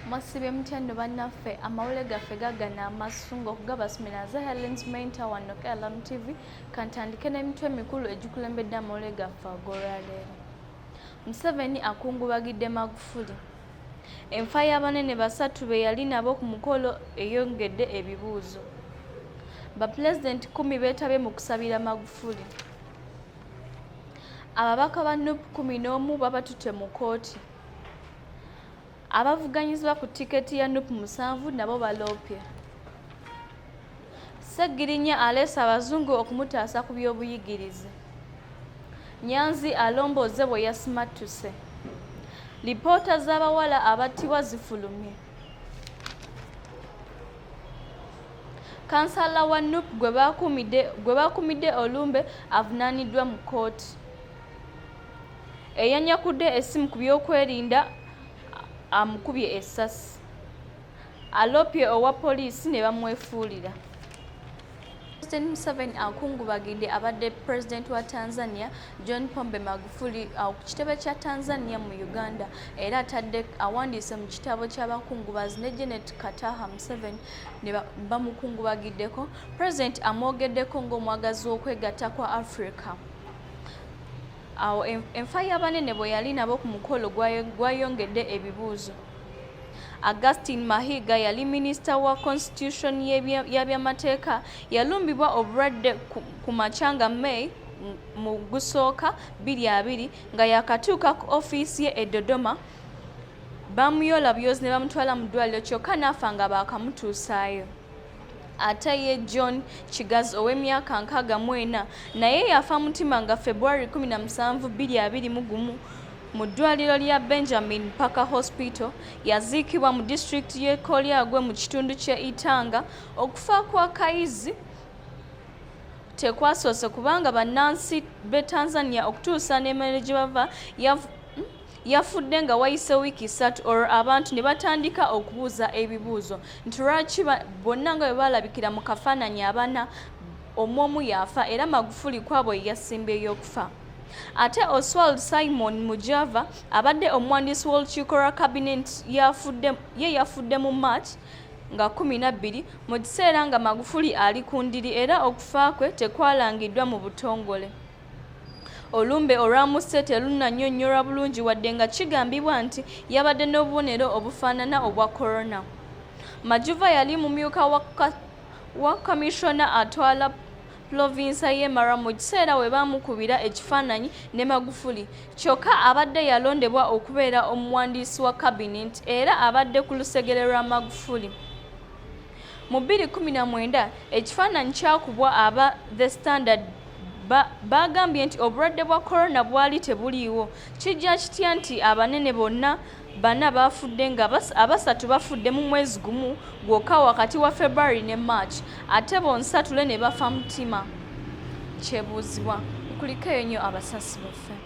mwasibye mutya nno bannaffe amawule gaffe gagana amasu ng'okugabasumira nze helens mainta wanno kalamu tv kantandike n'emitwe emikulu egikulembedde amawule gaffe ag'olwaleero museveni akungubagidde magufuli enfa y'abanene basatu be yali nabo ku mukolo eyongedde ebibuuzo bapulezidenti kumi beetabye mu kusabira magufuli ababaka ba nup kumi n'omu babatutte mu kkooti abavuganyizibwa ku tiketi ya nup musanvu nabo baloopye ssegirinya aleese abazungu okumutaasa ku by'obuyigirize nyanzi alombooze bwe yasimattuse lipoota z'abawala abattibwa zifulumye kansala wa nup gwe baakumidde olumbe avunaaniddwa mu kkooti Eyanyakudde essimu ku byokwerinda amukubye essasi. Aloopye owa poliisi ne bamwefuulira. President Museveni akungubagidde abadde President wa Tanzania John Pombe Magufuli uh, ku kitebe kya Tanzania mu Uganda era atadde awandiise mu kitabo ky'abakungubazi ne Janet Kataha Museveni ne bamukungubagiddeko President amwogeddeko ng'omwagazi w'okwegatta kwa Africa. Awo enfa y'abanene bwe yali nabo ku mukolo gwayongedde ebibuuzo. Augustine Mahiga yali minisita wa constitution y'abyamateeka yalumbibwa obulwadde ku makya nga May mu gusooka biri abiri nga yakatuuka ku ofiisi ye e Dodoma baamuyola byozi ne bamutwala mu ddwaliro kyokka n'afa nga baakamutuusaayo. ate ye john kigazi ow'emyaka nkaaga mu ena naye yafa mutima nga february 1721 mu ddwaliro lya benjamin parker hospital yaziikibwa mu disitulikiti y'e kolyagwe mu kitundu ky'e itanga okufa kwa kayizi tekwasoose kubanga bannansi b'e tanzania okutuusa n'emere gye bava yafudde nga wayise wiiki ssatu olwo abantu ne batandika okubuuza ebibuuzo nti lwaki bonna nga bwe baalabikira mu kafaananyi abana omu omu yaafa era magufuli kwabo ye yasimbyeyo okufa ate oswald simon mujava abadde omuwandiisi w'olukiiko lwa kabineeti ye yafudde mu march nga kumi na bbiri mu kiseera nga magufuli ali ku ndiri era okufa kwe tekwalangiddwa mu butongole olumbe olwamusse terunnannyonnyorwa bulungi wadde nga kigambibwa nti yabadde n'obubonero obufaanana obwa corona majuva yali mumyuka wa kamishona atwala pulovinsa ye mara mu kiseera we baamukubira ekifaananyi ne magufuli kyokka abadde yalondebwa okubeera omuwandiisi wa kabineeti era abadde ku lusegere lwa magufuli mu 219 ekifaananyi kyakubwa aba the standard baagambye nti obulwadde bwa corona bwali tebuliiwo kijja kitya nti abanene bonna bana baafudde nga abasatu bafudde mu mwezi gumu gwokka wakati wa february ne march ate bonsatule ne bafa mutima kyebuuzibwa nkuliko eyo nnyo abasasi baffe